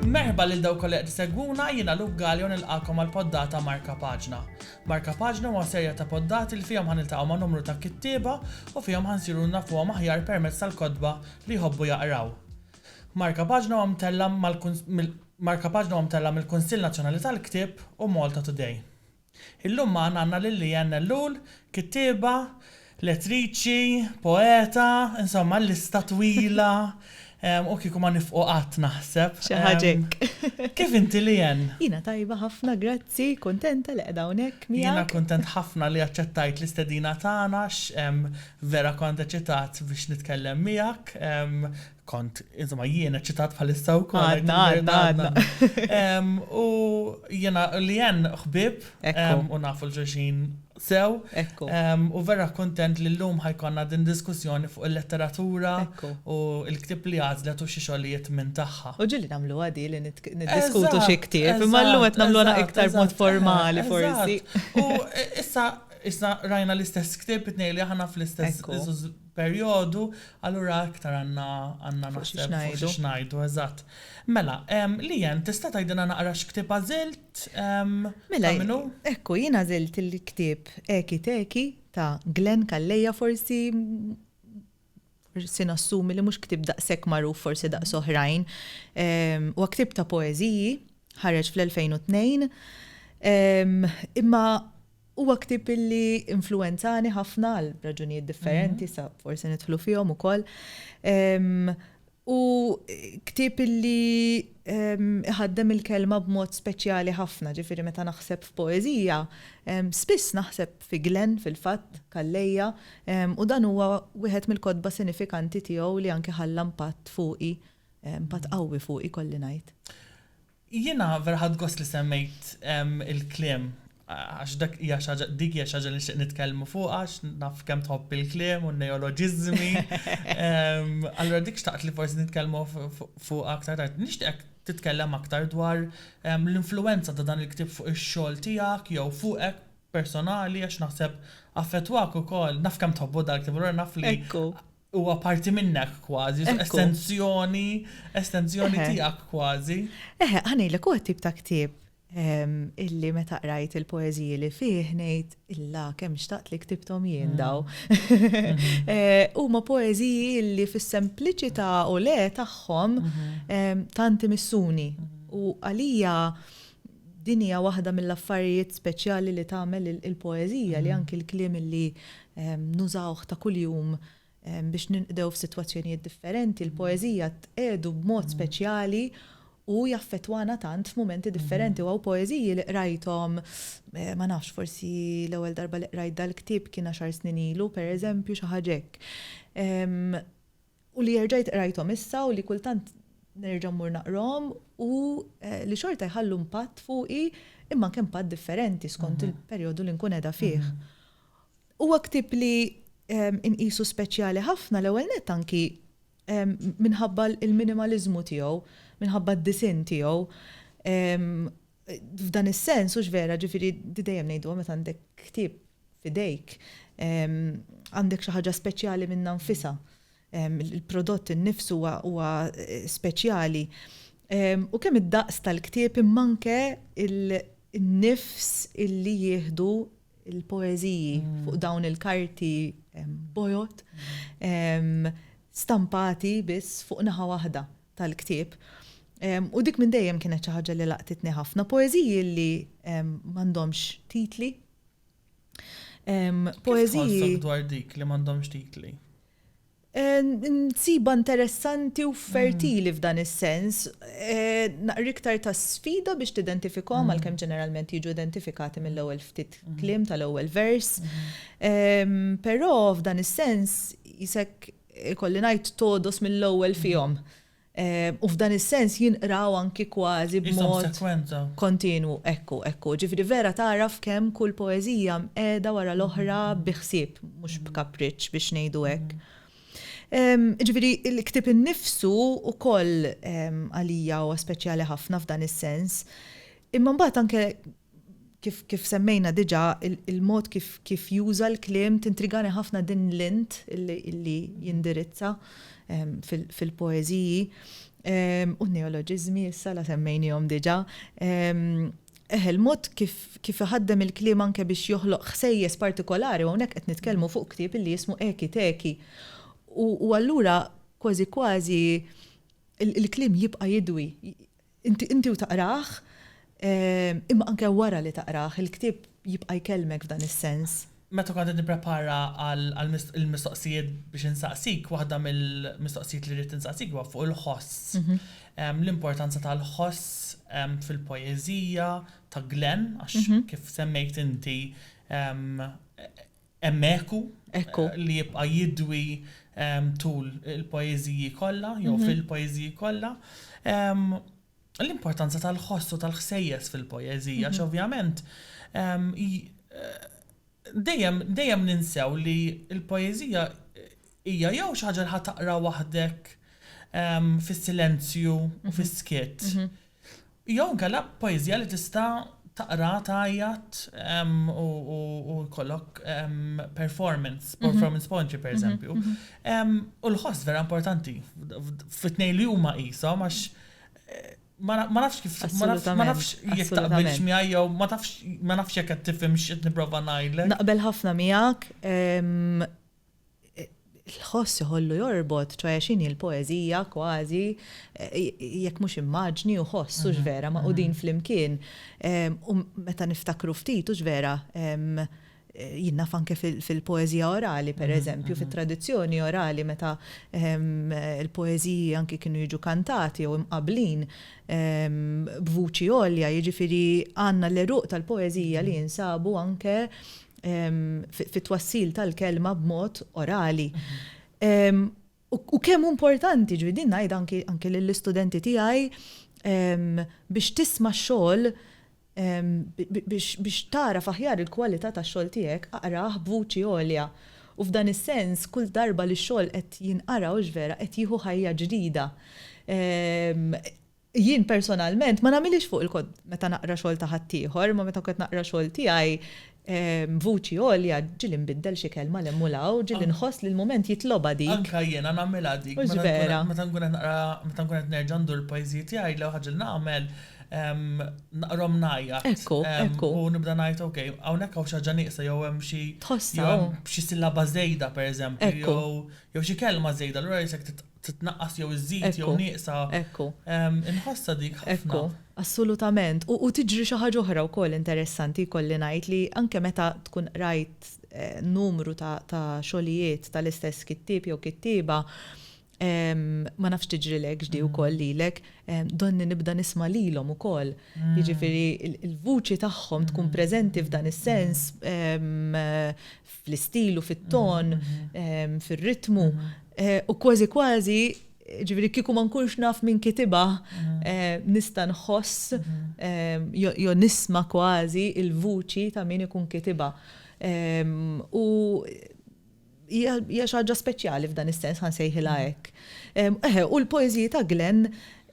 Merħba lil dawk kollha qed isegwuna, jiena Luke Galea u nilqagħkom għal poddata Marka Paġna. Marka Paġna huwa serja ta' poddati li fihom ħaniltaqgħu ma' numru ta' kittieba u fihom ħansiru nafuhom aħjar permezz tal-kotba li jħobbu jaqraw. Marka Paġna huwa mtella' Marka Paġna huwa mtella' mill-Kunsill Nazzjonali tal-Ktieb u Malta Today. Illum magħna għandna lil Leanne Ellul, kittieba, lettriċi, poeta, insomma l-lista twila u kieku ma nifqu qatt naħseb. Xi ħaġa hekk. Kif inti Leanne? Jiena tajba ħafna grazzi, kuntenta li qiegħda hawnhekk miegħek. Jiena kuntent ħafna li aċċettajt l-istedina tagħna għax vera kont eċitat biex nitkellem miegħek. kont, insomma, jien eċitat bħalissa u kont. Għadna, għadna, għadna. U jena li jen xbib u nafu l-ġuġin sew. U vera kontent li l-lum ħajkonna din diskussjoni fuq il-letteratura u il-ktib li għazlet u xiexolijiet minn taħħa. U ġili namlu għadi li niddiskutu xie ktib, imma l-lum għet namlu għana iktar mod formali forsi. U issa, issa rajna l-istess ktib, it-nej li ħana fl-istess perjodu, allura iktar għandna, għandna naħseb fuq xiex ngħidu, eżatt. Mela, Lian, tista' tgħidilna naqra x'ktieb għażilt, ta' min hu? Mela, ekku, jien għażilt il-ktieb Eki Teki ta' Glenn Calleja, forsi, forsi nassumi li mhux ktieb daqshekk magħruf forsi daqs oħrajn. Huwa ktieb ta' poeżiji, ħareġ fl-2002, imma Huwa ktieb li influwenzani ħafna għal raġunijiet differenti, sa forsi nidħlu fihom ukoll. U ktieb li iħaddem il-kelma b'mod speċjali ħafna, ġifieri meta naħseb f'poeżija, spiss naħseb fi Glenn fil-fatt, Calleja, u dan huwa wieħed mill-kotba sinifikanti tiegħu li anke ħalla impatt fuqi, impatt qawwi fuqi kolli ngħid. Jiena vera ħadt gost li semmejt il-kliem għax dak hija xi ħaġa dik hija xi ħaġa li nixtieq nitkellmu fuqha għax naf kemm tħobb il-kliem u n-neoloġiżmi. Allura dik xtaqt li forsi nitkellmu fuqha aktar tard. Nixtieqek titkellem aktar dwar l-influwenza ta' dan il-ktieb fuq ix-xogħol tiegħek jew fuqek personali għax naħseb affettwak ukoll. Naf kemm tħobbu dal-ktieb allura naf li Huwa parti minnek kważi, estenzjoni, estenzjoni tiegħek kważi. Eħe, ħanejlek huwa tip ta' ktieb ehm, illi meta qrajt il-poeżiji li fih ngħid illa kemm xtaqt li ktibthom jien mm. daw. Mm-hmm. Eh, huma poeżiji illi fis-sempliċità u le tagħhom mm-hmm. ehm, tanti missuni. Mm-hmm. U għalija Din hija waħda mill-affarijiet speċjali li tagħmel il-poeżija li anki l-kliem li nużawh ta' kuljum biex ninqdew f'sitwazzjonijiet differenti, il-poeżija tqiegħdu b'mod speċjali u jaffettwana tant f'mumenti differenti. U hawn poeżiji li qrajthom, ma nafx, forsi l-ewwel darba li qrajt dal-ktieb kien għaxar snin ilu, pereżempju, xi ħaġa hekk. u li erġajt qrajthom issa u li kultant nerġa' mmur naqrahom u li xorta jħallu impatt fuqi imma anke impatt differenti skont il-perjodu li nkun qiegħda fih. Huwa ktieb li nqisu speċjali ħafna l-ewwel nett anki minħabba l-minimaliżmu tiegħu, minħabba d-disinn tiegħu F'dan is-sens, hux vera, ġifieri di dejjem ngħiduha meta għandek ktieb f'idejk, għandek xi ħaġa speċjali minnha nfisha. Il-prodott innifsu huwa speċjali. U kemm id-daqs tal-ktieb imma anke n-nifs illi jieħdu l-poeżiji fuq dawn il-karti bojod stampati biss fuq naħa waħda. tal-ktieb. U dik minn dejjem kienet xi ħaġa li laqtitni ħafna. Poeżiji li m'għandhomx titli. Poeżiji. dwar dik li m'għandhomx titli? Eh, nsiba interessanti u fertili f'dan is-sens, eh, naqri iktar ta' sfida biex tidentifikom mm. għalkemm ġeneralment jiġu identifikati mill-ewwel ftit mm. klim tal-ewwel vers. Mm. Però f'dan is-sens jisek ikolli ngħid, togħdos mill-ewwel fihom. U f'dan is-sens jinqraw anki kważi b'mod kontinwu. Ekku, ekku. Ġifieri vera tagħraf kemm kull poeżija mqiegħda wara l-oħra bi ħsieb, mhux b'kapriċċ biex ngħidu hekk. Ġifieri l-ktieb innifsu wkoll għalija huwa speċjali ħafna f'dan is-sens. Imma mbagħad anke Kif semmejna diġà, il-mod kif juża l-kliem tintrigani ħafna din l-int li jindirizza fil-poeżiji. U n-neoloġiżmi issa la semmejniehom diġà. Eħe, il-mod kif iħaddem il-kliem anke biex joħloq ħsejjes partikolari, u hawnhekk qed nitkellmu fuq ktieb li jismu Eki Teki. U allura kważi kważi l-kliem jibqa' jidwi, Inti inti u taqrah, imma anke wara li taqrah, il-ktieb jibqa' jkellmek f'dan is-sens. Meta kont qed nipprepara għal għal mis il-mistoqsijiet biex insaqsik, waħda mill-mistoqsijiet li rrid insaqsik huwa fuq il-ħoss. L-importanza tal-ħoss fil-poeżija ta' Glenn, għax kif semmejt inti, Hemm eku li jibqa' jidwi tul il-poeżiji kollha jew mhm. fil-poeżiji kollha. L-importanza tal-ħoss u tal-ħsejjes fil-poeżija, mhm. x'ovvjament dejjem dejjem ninsew li l-poeżija hija jew xi ħaġa li ħataqra waħdek fis-silenzju u mhm. fis-skiet. Mhm. Jew inkella poeżija li tista' taqra, tgħajjat u jkollok performance, performance poetry pereżempju. U l-ħoss vera importanti fit-tnejn li huma qishom għax ma nafx kif ma nafx jekk taqbilx miegħi jew ma tafx ma nafx jekk qed tifhimx x'qed nipprova ngħidlek. Naqbel ħafna miegħek. l-ħoss iħollu jorbot, ċoħe x'inhi l-poeżija kważi jekk mhux immaġni u ħoss, hux vera, magħqudin flimkien. U meta niftakru ftit, hux vera, jien naf anke fil-poeżija orali, pereżempju, fit-tradizzjoni orali meta l-poeżiji anke kienu jiġu kantati jew imqabblin b'vuċi għolja, jiġifieri għandna l-għeruq tal-poeżija li jinsabu anke fit-twassil tal-kelma b'mod orali. U kemm importanti ġwi din ngħid anki lill-istudenti tiegħi biex tisma' xogħol biex tara faħjar il-kwalità tax-xogħol tiegħek aqrah b'vuċi għolja. U f'dan is-sens kull darba li x-xogħol qed jinqara u vera qed jieħu ħajja ġdida. Jien personalment ma nagħmilhiex fuq il-kont meta naqra xogħol ta' ħaddieħor, imma meta kont naqra xogħol tiegħi b'vuċi għolja ġieli nbiddel xi kelma 'l hemm u 'l hawn, ġieli nħoss li l-mument jitlobha dik. Anke jiena nagħmilha dik. Mhux vera? Meta nkun qed naqra, meta nkun qed nerġa' ndur il-poeżiji tiegħi, l-ewwel ħaġa li nagħmel naqrahom ngħajjat. Ekku, ekku. U nibda ngħid ok, hawnhekk hawn xi ħaġa nieqsa jew hemm xi. Tħossha. Xi sillaba żejda pereżempju. Ekku. Jew xi kelma żejda, allura jekk titnaqqas jew iżżid jew nieqsa. Ekku. Inħossha dik ħafna. Ekku, assolutament. U tiġri xi ħaġa oħra wkoll interessanti jkolli ngħid li anke meta tkun qrajt numru ta' xogħlijiet tal-istess kittieb jew kittieba, ma nafx tiġrilekx di wkoll lilek, donni nibda nisma' lilhom ukoll. Jiġifieri l-vuċi tagħhom tkun preżenti f'dan is-sens fl-istil u fit-ton, fir-ritmu, u kważi kważi ġifieri kieku ma nkunx naf min kitibha nista' nħoss jew nisma' kważi l-vuċi ta' min ikun kitibha. U hija xi ħaġa speċjali f'dan is-sens ħa nsejħilha hekk. Eħe, u l-poeżiji ta' Glenn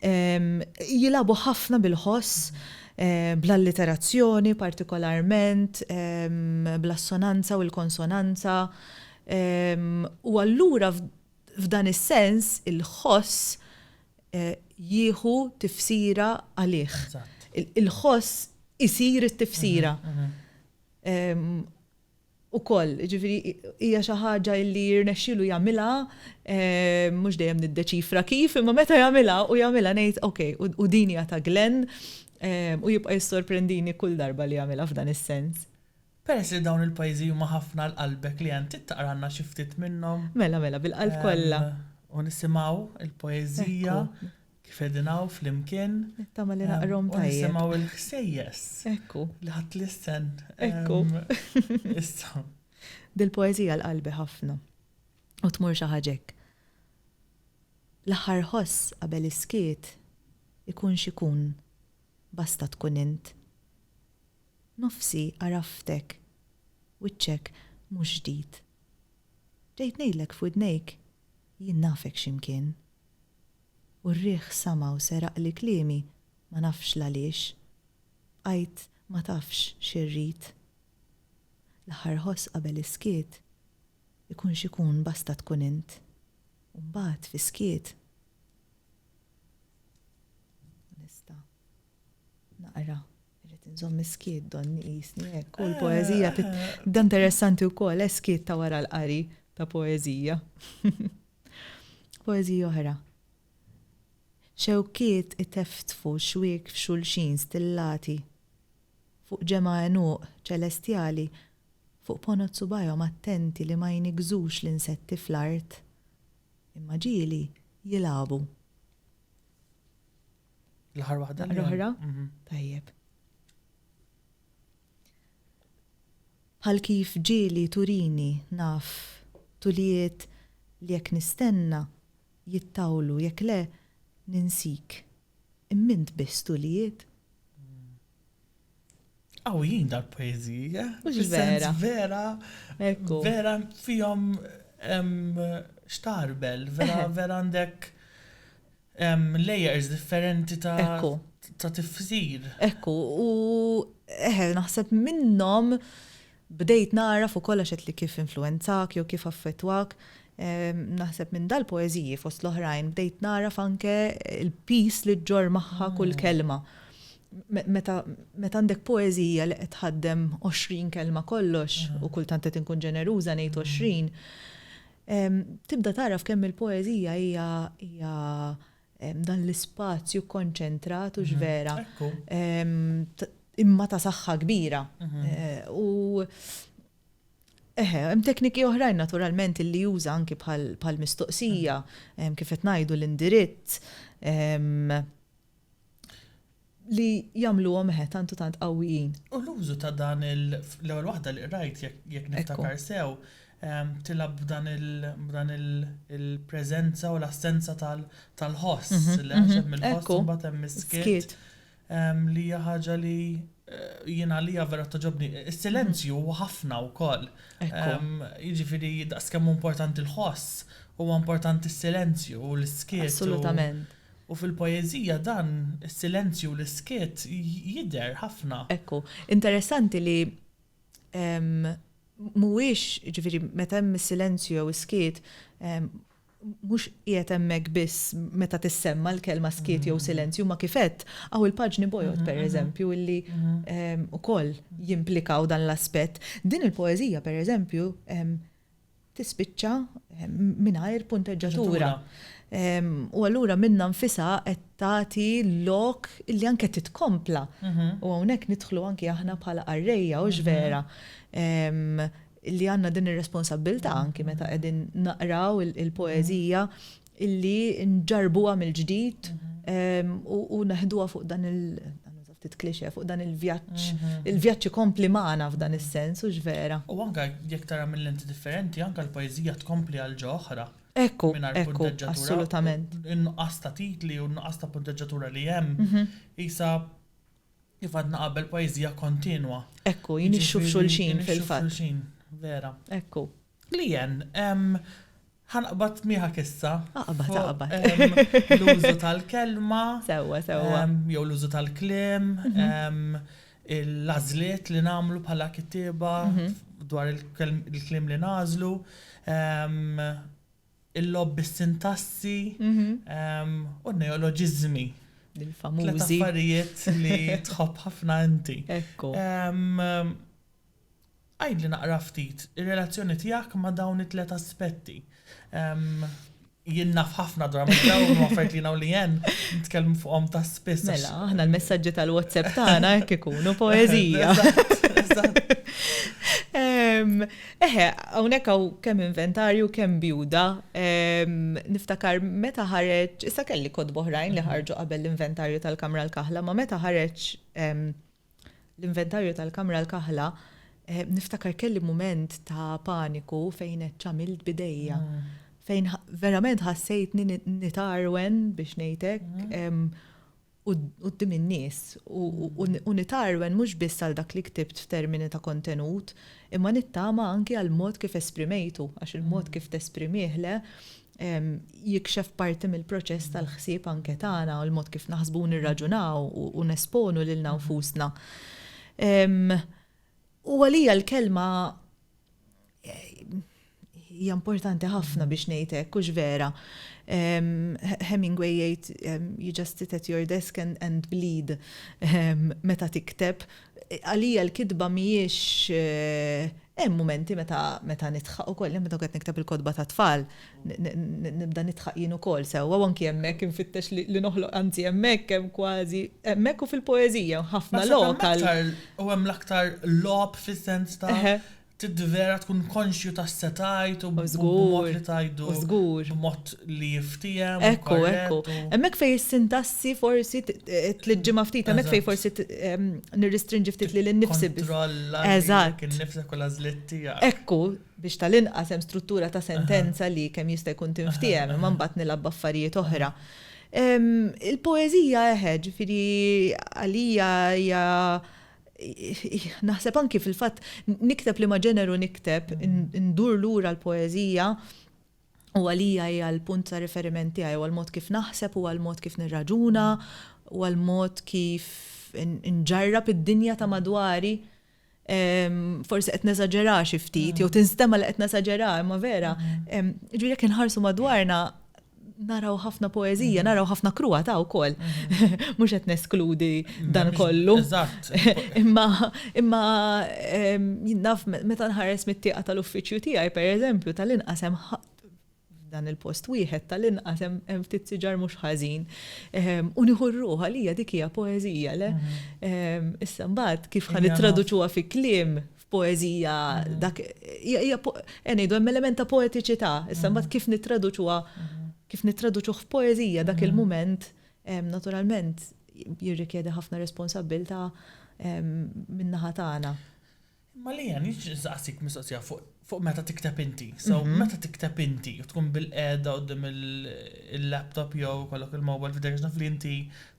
Jilagħbu ħafna bil-ħoss, bl-alliterazzjoni partikolarment, bl-assonanza u l-konsonanza, u allura f'dan is-sens il-ħoss jieħu tifsira għalih. Il-ħoss isir it-tifsira. ukoll, jiġifieri hija xi ħaġa li jirnexxilu jagħmilha, mhux dejjem niddeċifra kif, imma meta jagħmilha u jagħmilha ngħid ok, u din hija ta' Glenn, u jibqa' jissorprendini kull darba li jagħmilha f'dan is-sens. Peress li dawn il-pajjiżi huma ħafna għal qalbek li int trid taqralna xi ftit minnhom. Mela, mela, bil-qalb kollha. U nisimgħu l-poeżija Kif qegħdin hawn flimkien. Nittama li naqrhom tajjeb. U nisimgħu l-ħsejjes. Ekku. Li ħadt lissen. Ekku. Issa. Dil-poeżija l-qalbi ħafna. U tmur xi ħaġa hekk. L-aħħar ħoss qabel is-skiet ikun x'ikun basta tkun int. Nofsi għaraftek, wiċċek mhux ġdid. Ġejt ngħidlek f'widnejk jien nafek x'imkien. U r-riħ sama u seraqli kliemi ma nafx l-għaliex. Bqajt ma tafx xi rrid. L-aħħar ħoss qabel is-skiet, ikun x'ikun basta tkun int. U mbagħad fis-skiet, nista' naqra Irrid inżomm is-skiet donni qisni hekk u l-poeżija da interessanti wkoll eh, skiet ta' wara l-qari ta' poeżija. Poeżija oħra. Xewkiet iteftfu xwiek f'xulxin stillati fuq ġemgħa għenuq ċelestjali fuq ponot subgħajhom attenti li ma jniggżux l-insetti fl-art imma ġieli jilagħbu. L-aħħar waħda li oħra? Mhm. Tajjeb. Bħal kif ġieli turini naf tulijiet li jekk nistenna jittawlu jekk le ninsik. Immint biss tulijiet. Qawwijin dal-poeżiji, eh? Mhux vera. Vera, vera fihom xtarbel, vera vera għandek layers differenti ta' ta' tifsir. Ekku, u eħe, naħseb minnhom Bdejt nagħraf ukoll għax għedtli kif influwenzak jew kif affettwak. Naħseb minn dal-poeżiji, fost l-oħrajn, bdejt nagħraf anke l-piż li ġġorr magħha kull kelma. Meta għandek poeżija li qed tħaddem għoxrin kelma kollox, u kultant qed inkun ġeneruża ngħid għoxrin, tibda tagħraf kemm il-poeżija hija Dan l-ispazju kkonċentrat hux vera imma ta' saħħa kbira. U eħe, hemm tekniki oħrajn naturalment li juża anki bħal mistoqsija kif qed ngħidu l-indirizz. li jagħmluhom eħe tant u tant qawwijin. U l-użu ta' dan il, l-ewwel waħda li qrajt jekk niftakar sew, tilgħab b'dan il-preżenza u l-assenza tal-ħoss, li għax hemm il-ħoss u mbagħad hemm is-skiet, li hija ħaġa li jien għalija vera togħġobni. Is-silenzju huwa ħafna wkoll. Jiġifieri daqskemm hu importanti l-ħoss, huwa importanti s-silenzju u l-iskiet. Assolutament. U fil-poeżija dan is-silenzju u l-iskiet jidher ħafna. Ekku, interessanti li mhuwiex, jiġifieri meta hemm is-silenzju jew is-skiet, mhux qiegħed hemmhekk biss meta tissemma' l-kelma skiet jew silenzju, imma kif għedt, hawn il-paġni bojod, pereżempju, illi wkoll jimplikaw dan l-aspett. Din il-poeżija, pereżempju, tispiċċa mingħajr punteġġatura. U allura minna nfisa qed tagħti lok li anke titkompla. Mhm. U hawnhekk nidħlu anke aħna bħala qarrejja u vera li għandna din ir-responsabbiltà anke meta qegħdin naqraw il-poeżija illi nġarbuha mill-ġdid u neħduha fuq dan il- ftit klixe fuq dan il-vjaġġ. Mhm. Il-vjaġġ ikompli magħna f'dan is-sens u vera. U anke jekk tara minn lenti differenti, anke l-poeżija tkompli għal ġo oħra. Ekku, ekku, assolutament. In-nuqqas ta' titli u n-nuqqas ta' punteġġatura li hemm, mhm. isa kif għadna qabel poeżija kontinwa. Ekku, jinixxu f'xulxin fil-fatt. Vera. Ekku. Leanne, ehm, ħa naqbad miegħek issa. Aqbad, aqbad. Ehm, l-użu tal-kelma. Sewwa, sewwa. Ehm, jew l-użu tal-kliem, mhm. ehm, l-għażliet li nagħmlu bħala kittieba mhm. dwar il-kliem li nażlu, ehm, il-lob bis-sintassi mhm. u neoloġiżmi. Il-famużi. L-affarijiet li tħobb ħafna inti. Ekku. Għidli naqra ftit ir-relazzjoni tiegħek ma' dawn it-tliet aspetti. Jien naf ħafna dwar ma' dawn u affarijiet li jien u Leanne nitkellmu fuqhom ta' spiss. Mela, aħna l-messaġġi tal-WhatsApp tagħna hekk ikunu poeżija. Eħe, hawnhekk hawn kemm inventarju kemm bjuda. Niftakar meta ħareġ, issa kelli kotba oħrajn li ħarġu qabel l-inventarju tal-kamra l-kaħla, ma meta ħareġ L-inventarju tal-kamra l-kaħla, niftakar kelli mument ta' paniku fejn għedt x'għamilt b'idejja. Fejn verament ħassejtni nitgħarwen biex ngħid hekk quddiem in-nies u nitgħarwen mhux biss għal dak li ktibt f'termini ta' kontenut, imma nittama anki għall-mod kif esprimejtu għax il-mod kif tesprimih le jikxef parti mill-proċess tal-ħsieb anke tagħna u l-mod kif naħsbu u nirraġunaw u nesponu lilna nfusna. U għalija l-kelma hija importanti ħafna biex ngħid hekk hux vera. Hemingway jgħid you just sit at your desk and, and bleed meta tikteb Għalija l-kitba mhijiex, hemm mumenti meta meta nidħaq ukoll, hemm meta qed nikteb il-kotba tat-tfal nibda nidħaq jien ukoll sewwa u anki hemmhekk infittex li li noħloq anzi hemmhekk hemm kważi hemmhekk u fil-poeżija hemm ħafna lok għal Naħseb hemm aktar u hemm l-aktar logħob fis-sens ta' Trid vera tkun konxju tas-setgħid u b'mod li tgħidu b'mod li jiftiehem u korrett. Ekku, ekku. Hemmhekk fejn is-sintassi forsi tliġġimha ftit, hemmhekk fejn forsi nirristrinġi ftit lili nnifsi biss. Tikkontrolla lilek innifsek u l-għażliet tiegħek. Ekku, biex tal-inqas hemm struttura ta' sentenza li kemm jista' jkun tinftiehem, imma mbagħad nilgħab b'affarijiet oħra. Il-poeżija eħe, ġifieri għalija hija Naħseb anki fil-fatt nikteb liema ġeneru nikteb, indur lura l-poeżija u għalija hija l-punt ta' riferiment tiegħi, huwa l-mod kif naħseb, huwa l-mod kif nirraġuna, huwa l-mod kif inġarrab id-dinja ta' madwari. Forsi qed nesaġera xi ftit, jew tinstema' li qed nesaġera, imma vera. Ġifieri jekk inħarsu madwarna, Naraw ħafna poeżija, naraw ħafna kruwatà wkoll. Mhux qed neskludi dan kollu. Eżatt. Imma imma ehm, jien naf me- meta nħares mit-tieqa tal-uffiċċju tiegħi, pereżempju, tal-inqas hemm ħa- f'dan il-post wieħed tal-inqas hemm hemm ftit siġar mhux ħażin. Ehm, U nieħu r-ruħ għalija dik hija poeżija, le? Ehm, Issa mbagħad kif ħa Hija naf. nittraduċuha fi kliem, poeżija dak hija ngħidu hemm element ta' poetiċità, issa mbagħad kif nittraduċuha kif nittraduċuh f'poeżija dak il-mument naturalment jirrikjedi ħafna responsabbilta min-naħa tagħna. Ma li għan jiġżaqsik mistoqsija fuq meta tikteb inti. So, mhm. meta tikteb inti, tkun bil-qeda għoddim il-laptop jew kollok il-mobile f'dek naf li inti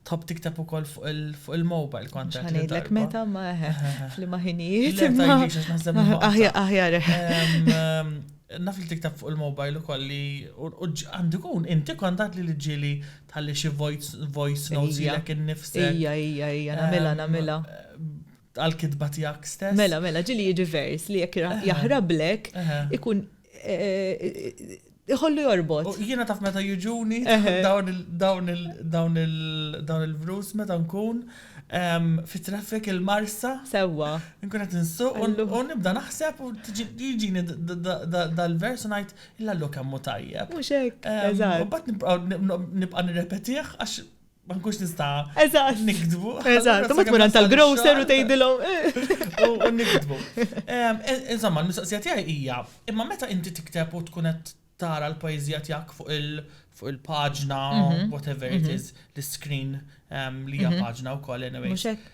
Tħobb tikteb ukoll fuq il-mobile kont qed. Ngħidlek meta ma f'liema ħinijiet. Le ma tgħidlix għax naħseb li. Aħjar aħjar. Naf li tikteb fuq il-mobile ukoll li għandu jkun inti kont għad li li ġieli tħalli xi voice notes lilek innifsek. Ija, ija, ija, nagħmilha, nagħmilha. Tal-kitba tiegħek stess? Mela, mela, ġieli jiġi vers li jekk jaħrablek ikun iħollu jorbot. Jiena taf meta jiġuni dawn il-vrus meta nkun fi traffic il-marsa. Sewwa. Nkun qed insuq u nibda naħseb u jiġini dal-vers u ngħid illa llu kemm hu tajjeb. Mhux hekk. U mbagħad nibqa' nirrepetih għax ma nkunx nista' Eżatt. nikdbu. Eżatt, ma tmur għand tal-grocer u tgħidilhom. U u nikdbu. Em, e- Insomma, l-mistoqsija tiegħi hija, imma meta inti tikteb u tkun qed tara l-poeżija tiegħek fuq il fuq il-paġna, Mhm, whatever it mhm. is, l-screen em, li hija Mhm. paġna wkoll anyway. Mhux hekk?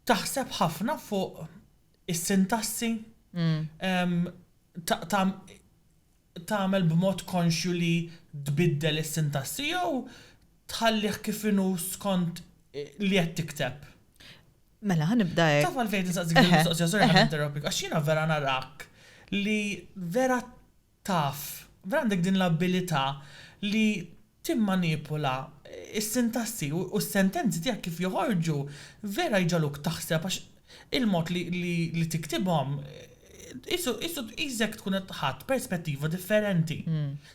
Taħseb ħafna fuq is-sintassi Mm. em, ta' ta' tagħmel b'mod konxju li tbiddel is-sintassi jew tħallih kif inhu skont li qed tikteb? Mela, ħa nibda hekk. Taf għalfejn insaqsik din il-mistoqsija, sorry ħa ninterrompik, għax jiena vera narak li vera taf, vera għandek din l-abilità li timmanipula s-sintassi u s-sentenzi tiegħek kif joħorġu vera jġagħluk taħseb għax il-mod li tiktibhom qisu qisek tkun qed ħadt perspettiva differenti.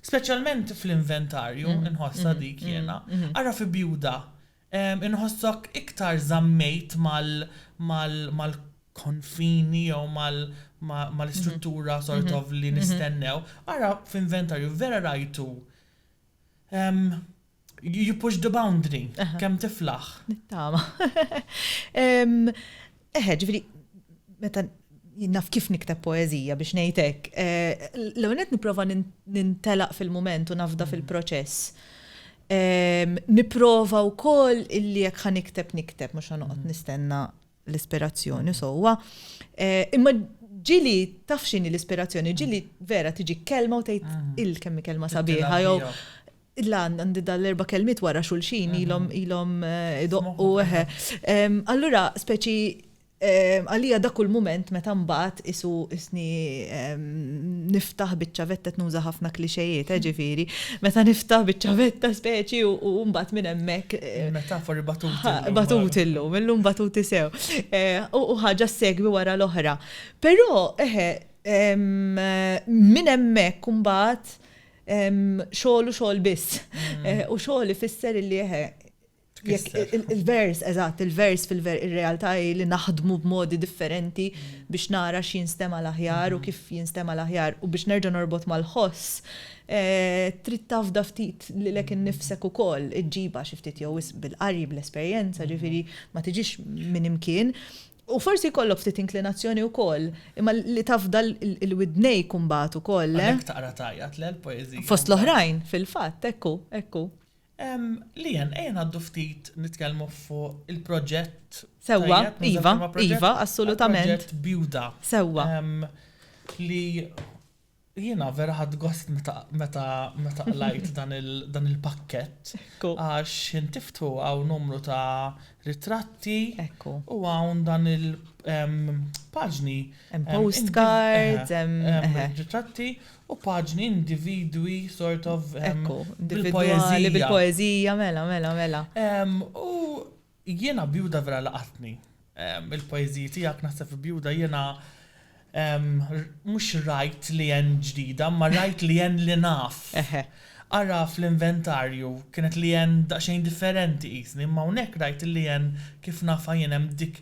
Speċjalment fl-inventarju nħossha dik jiena. Ara fi Bjuda. Inħossok iktar żammejt mal konfini jew mal-istruttura sort of li nistennew. Ara f'inventarju vera rajtu You push the boundary, kemm tiflaħ. Nittama. Eħe, ġifiri, meta naf kif nikteb poezija biex nejtek, eh, l-għonet niprofa nintelaq fil-moment u nafda mm. fil-proċess. Niprofa u koll illi jek ħanikteb nikteb, mux ħanuqot mm. nistenna l-ispirazzjoni sewwa. Eh, imma ġili taf x'inhi l-ispirazzjoni, ġili vera tiġi kelma u tgħid mm. il-kemmi kelma sabiħa jew Illa għandi dal-erba kelmiet wara xulxin mm-hmm. ilhom ilhom eh, idoqqu eħe. Allura speċi għalija dak kull moment meta mbagħad isu isni niftaħ biċċa vettet nuża ħafna klixejiet, eh, ġifieri, Meta niftaħ biċ-ċavetta speċi u mbagħad minn hemmhekk. Eh, metafori batuti. Batuti illum, illum batuti sew. Eh, u ħaġa segwi wara l-oħra. Però eħe minn hemmhekk mbagħad xogħol u xogħol biss. Mm. Eh, u xogħol ifisser li eħe Il-vers, eżatt, il-vers fil-ver, ir-realtà hi li naħdmu b'modi differenti biex nara x'jinstema' l-aħjar u kif jinstema' l-aħjar u biex nerġa' norbot mal-ħoss, eh, trid tafda ftit lilek innifsek ukoll, iġġibha xi ftit jew wisq bil-qari, bl-esperjenza, ġifieri ma tiġix minn imkien. U forsi jkollok ftit inklinazzjoni wkoll, imma li tafda l-widnejk imbagħad ukoll, le? Għalhekk taqra tgħajjat, le, l-poeżija? Fost l-oħrajn, fil-fatt, hekk hu, hekk hu. Leanne, ejja ngħaddu ftit nitkellmu fuq il-proġett. Sewwa, iva, iva, assolutament. Proġett Bjuda. Sewwa. Li jiena vera ħadd gost meta meta qlajt dan il-pakkett. Għax intiftu hawn numru ta' ritratti. Ekku. U hawn dan il-paġni. Hemm postcards, hemm. Ritratti U paġni, individwi, sort of, bil-poezija. Bil-poezija, mela, mela, mela. U jiena bjuda vera laqatni. Il-poezija tijak nasef bjuda jiena mux rajt li jen ġdida, ma rajt li jen li naf. Ara fl-inventarju, kienet li jen daqxejn differenti jisni, ma unek rajt li jen kif nafa jenem dik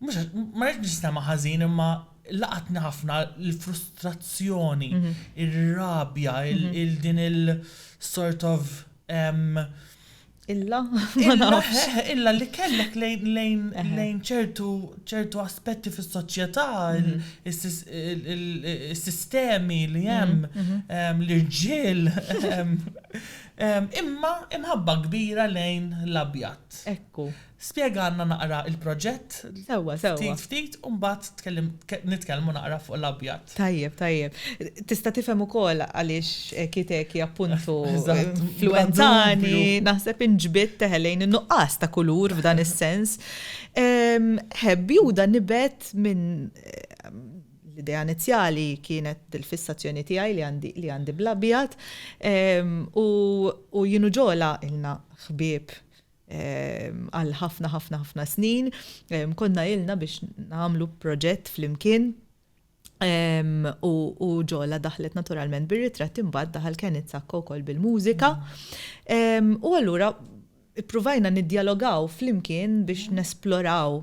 mhux għax, ma rridx nistema' ħażin imma laqatni ħafna l-frustrazzjoni, ir-rabja, il-din il-sort of Illa? Illa li kellek lejn ċertu aspetti fis-soċjetà, is-sistemi li hemm, l-irġiel. Imma imħabba kbira lejn l-abjad. Ekku. Spjegalna naqra il-proġett. Sewwa, sewwa. Ftit, ftit, u mbagħad tkellim, nitkellmu naqra fuq l-abjad. Tajjeb, tajjeb. Tista' tifhem ukoll għaliex Eki Teki appuntu influwenzani, naħseb inġbidt teħelejn in-nuqqas ta' kulur f'dan is-sens. Ħebb Juda nibet minn l-idea inizjali kienet il-fissazzjoni tiegħi li għandi bl-abjad u jien u Ġola ilna ħbieb għal ħafna ħafna ħafna snin. Konna ilna biex nagħmlu proġett flimkien u ġola daħlet naturalment bir-ritratt imbagħad daħal Kenneth Sakko wkoll bil-mużika. U allura ippruvajna niddjalogaw flimkien biex nesploraw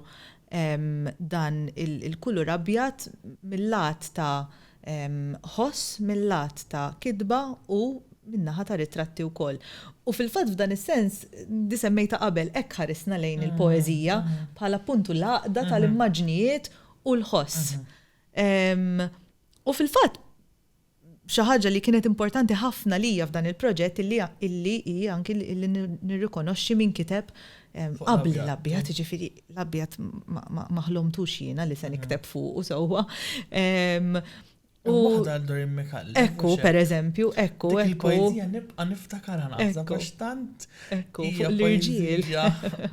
dan il-kulur abjad mill-lat ta' ħoss mil-lat ta' kitba u min-naħa ta' ritratti wkoll. U fil-fatt f'dan is-sens, di semmejtha qabel, hekk ħarisna lejn il-poeżija bħala appuntu l-għaqda tal-immaġnijiet u l-ħoss. U fil-fatt xi ħaġa li kienet importanti ħafna lija f'dan il-proġett illi hi anki li nirrikonoxxi min kiteb qabli l-abjad, jiġifieri l-abjad ma ħlomtux jiena li se nikteb fuqu sewwa. U waħda għal Dorin Mikalli. Ekku, per eżempju, ekku, ekku. Il-poezija nibqa' niftakar għana għax tant. Ekku, fuq l-irġiel.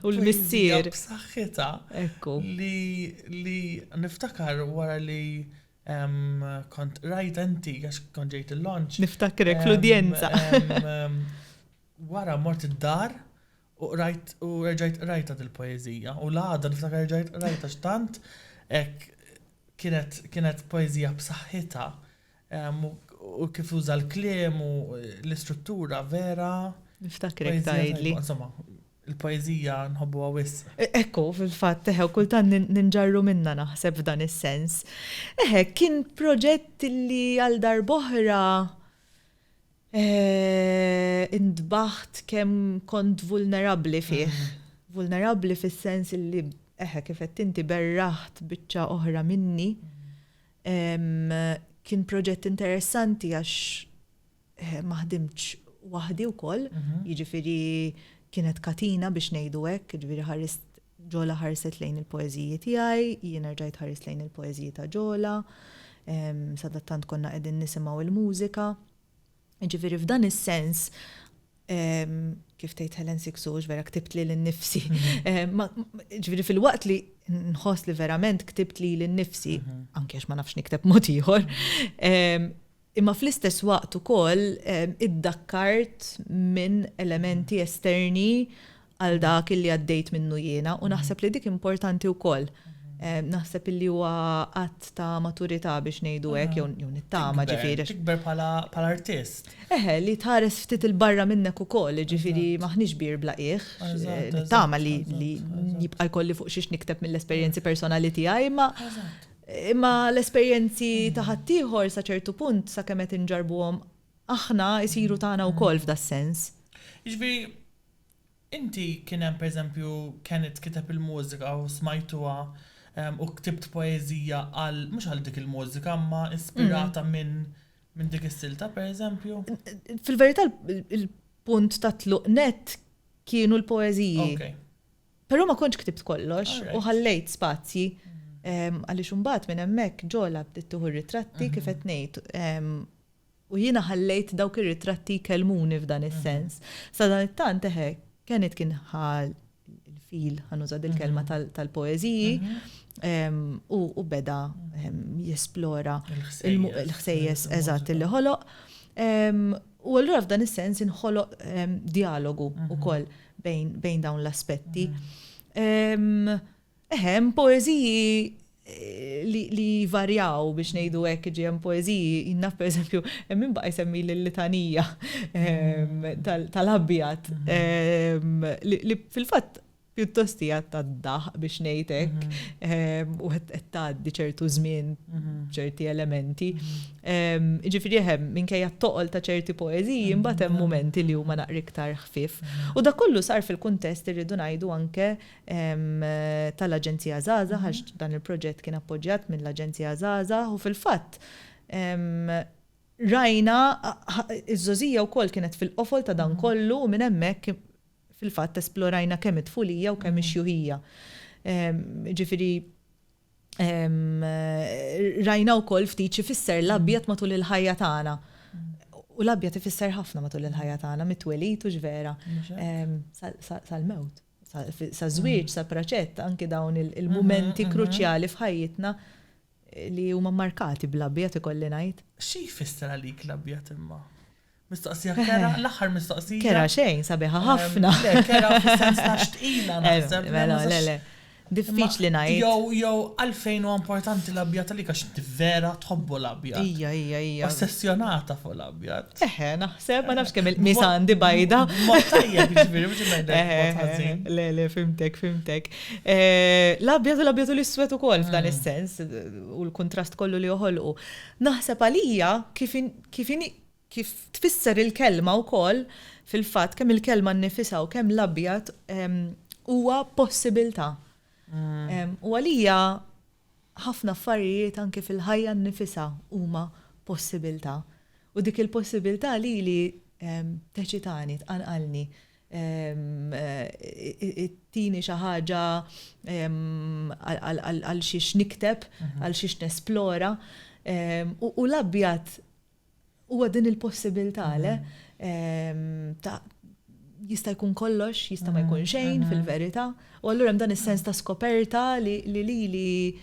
U l-missier. B'saħħitha. Ekku. Li niftakar wara li kont rajt enti għax kont ġejt il-launch. Niftakrek l-udjenza. Wara mort id-dar U qrajt u reġajt qrajta dil-poeżija u l-għada niftakar reġajt qrajta x'tant hekk kienet kienet poeżija b'saħħitha ehm, u- u kif uża l-kliem u l-istruttura vera. Niftakrek poeżija tajba. tgħidli. Insomma, il-poeżija nħobbuha wisq. E- Ekku, fil-fatt, teħe, u kultant nin- ninġarru minna naħseb f'dan is-sens. Eħe, kien proġett li għal darboħra Intbaħt kemm kont vulnerabbli fih. Vulnerabbli fis-sens illi, eħe, kif għedt inti, berraħt biċċa oħra minni. Kien proġett interessanti għax ma ħdimtx waħdi wkoll, jiġifieri kienet katina biex ngħidu hekk, jiġifieri ħarist Ġola ħarset lejn il-poeżiji tiegħi, jien erġajt ħarist lejn il-poeżiji ta' Ġola, sadattant konna qegħdin nisimgħu l-mużika. Jiġifieri f'dan is-sens, kif tgħid Helen Sixu, hux vera ktibt lili nnifsi. Jiġifieri filwaqt li nħoss li verament ktibt lili nnifsi, anke għax ma nafx nikteb mod ieħor, Imma fl-istess waqt ukoll iddakkart minn elementi esterni għal dak illi għaddejt minnu jiena u naħseb li dik importanti wkoll. Naħseb illi huwa att ta' maturità biex ngħidu hekk jew nittama ġifieri. Tikber bħala artist. Eħe, li tħares ftit 'il barra minnek ukoll, jiġifieri m'aħniex bir bla qiegħ. Nittama li jibqa' jkolli fuq xiex nikteb mill-esperjenzi personali tiegħi imma Imma l-esperjenzi ta' ħaddieħor sa ċertu punt, sakemm qed inġarrbuhom aħna, isiru tagħna wkoll f'das-sens. Jiġifieri, inti kien hemm pereżempju Kenneth kiteb il-mużika u smajtuha u ktibt poeżija għal, mhux għal dik il-mużika, imma ispirata minn minn dik is-silta pereżempju? Fil-verità l-punt ta' tluq nett kienu l-poeżiji. Però ma kontx ktibt kollox u ħallejt spazji għaliex imbagħad minn hemmhekk ġola bdiet tieħu r-ritratti kif qed ngħid u jiena ħallejt dawk ir-ritratti jkellmuni f'dan is-sens. Sadanittant eħe Kenneth kien ħa l-fil ħanuża dil-kelma tal-poeżiji u beda jesplora l-ħsejjes eżatt li ħoloq. U allura f'dan is-sens inħoloq dialogu wkoll. bejn dawn l-aspetti. Eħem, poeziji li varjaw biex nejdu hekk ġi hemm poeżiji, jinnaf per eżempju, minn baqa jsemmi l-litanija ehm, tal-abjad, ehm, li fil-fatt pjuttost hija tad-daħ biex ngħidek mhm. ehm, u qed tgħaddi ċertu żmien mhm. ċerti elementi. Mhm. Jiġifieri eħe, minkejja t-toqol ta' ċerti poeżiji, imbagħad hemm mumenti li huma naqra iktar ħfief. U dak kollu sar fil-kuntest irridu ngħidu anke tal-Aġenzija Żgħażagħ għax dan il-proġett kien appoġġjat mill-Aġenzija Żgħażagħ u fil-fatt rajna ż-Żgħożija wkoll kienet fil-qofol ta' dan kollu u minn hemmhekk fil-fatt esplorajna kemm it-tfulija u kemm ix-xjuħija. Jiġifieri Rajna wkoll ftit xi fisser l-abjad matul il-ħajja tagħna. U l-abjad ifisser ħafna matul il-ħajja tagħna, mit-twelid u x'vera. Sal-mewt, sal-żwieġ, sal-praċett, anki dawn il-mumenti kruċjali f'ħajjitna li huma markati bl-abjad ikolli ngħid. Xi jfisser għalik l-abjad imma? Mistoqsija kerha, l-aħħar mistoqsija. Kerha xejn, sabiħa ħafna. Le, kerha fis-sens ta' xtqila naħseb. Le, le, le, le. Diffiċli ngħid. Jew, jew għalfejn huwa importanti l-abjad għalik għax inti vera tħobbu l-abjad. Ija, ija, ija. Ossessjonata fuq l-abjad. Eħe, naħseb, ma nafx kemm il-qmis għandi bajda. Ma tajjeb, ġifieri, mhux ngħidlek. Le, le, fimtek, fimtek. Eh, l-abjad u l-abjad u l-iswed ukoll f'dan mm. is-sens u l-kuntrast kollu li joħolqu. Naħseb għalija kif kif tfisser il-kelma wkoll, fil-fatt, kemm il-kelma nnifisha u kemm l-abjad huwa possibilità. U għalija ħafna affarijiet anke fil-ħajja nnifisha huma possibilità. U dik il-possibilità lili teċitani, tqanqalni, ittini xi ħaġa għal xiex nikteb, għal xiex nesplora. U l-abjad Huwa din il-possibilità le ta' jista' jkun kollox, jista' ma jkun xejn fil-verità, u allura hemm dan is-sens ta' skoperta li lili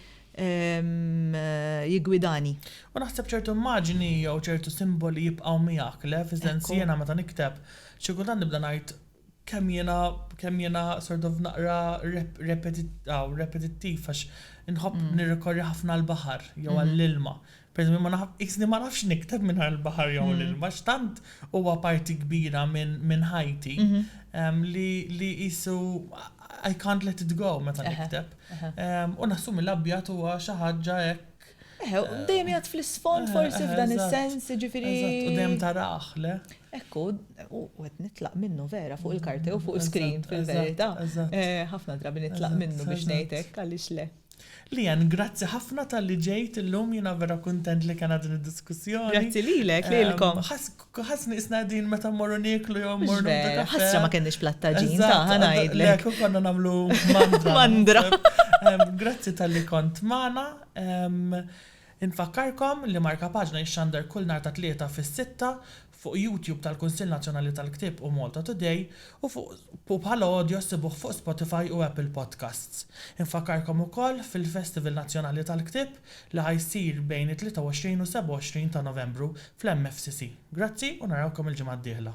jiggwidani. U naħseb ċertu immaġini jew ċertu simboli jibqgħu miegħek le, fis-sens jiena meta nikteb xi kultant nibda ngħid Kemm jiena, kemm jiena sort of naqra repetittiv għax inħobb nirrikorri ħafna għall-baħar jew għall-ilma. Pereżempju ma naf, qiesni ma nafx nikteb mingħajr il-baħar jew l-ilma għax tant huwa parti kbira minn ħajti li qisu I can't let it go meta nikteb. U nassumi l-abjad huwa xi ħaġa hekk. Eħe, dejjem jgħid fl-isfond forsi f'dan is-sens, jiġifieri. U dejjem tarah, le? Hekk hu, u qed nitlaq minnu vera fuq il-karti u fuq is-screen fil-verità. Eh, ħafna drabi nitlaq minnu biex ngħid hekk, għaliex le. Lian, grazzi ħafna talli ġejt illum, jiena vera kuntent li kellna din id-diskussjoni. Grazzi lilek, lilkom. Ehm, ħass ħass nisna qegħdin meta mmorru nieklu jew mmorru nagħmlu kafè. Ħassra ma kenniex plattaġin, ta' ħanajdlek. Lek u konna nagħmlu mandra. Mandra. Ehm, grazzi talli kont magħna. Ehm, Infakkarkom li Markapaġna jixxandar kull nhar ta' Tlieta fis-sitta fuq YouTube tal-Kunsill Nazzjonali tal-Ktieb u Malta Today u fuq u bħala audio ssibuh fuq Spotify u Apple Podcasts. Infakkarkom ukoll fil-Festival Nazzjonali tal-Ktieb li ħa jsir bejn it-23 u 27 ta' Novembru fl-MFCC. Grazzi u narawkom il-ġimgħa d-dieħla.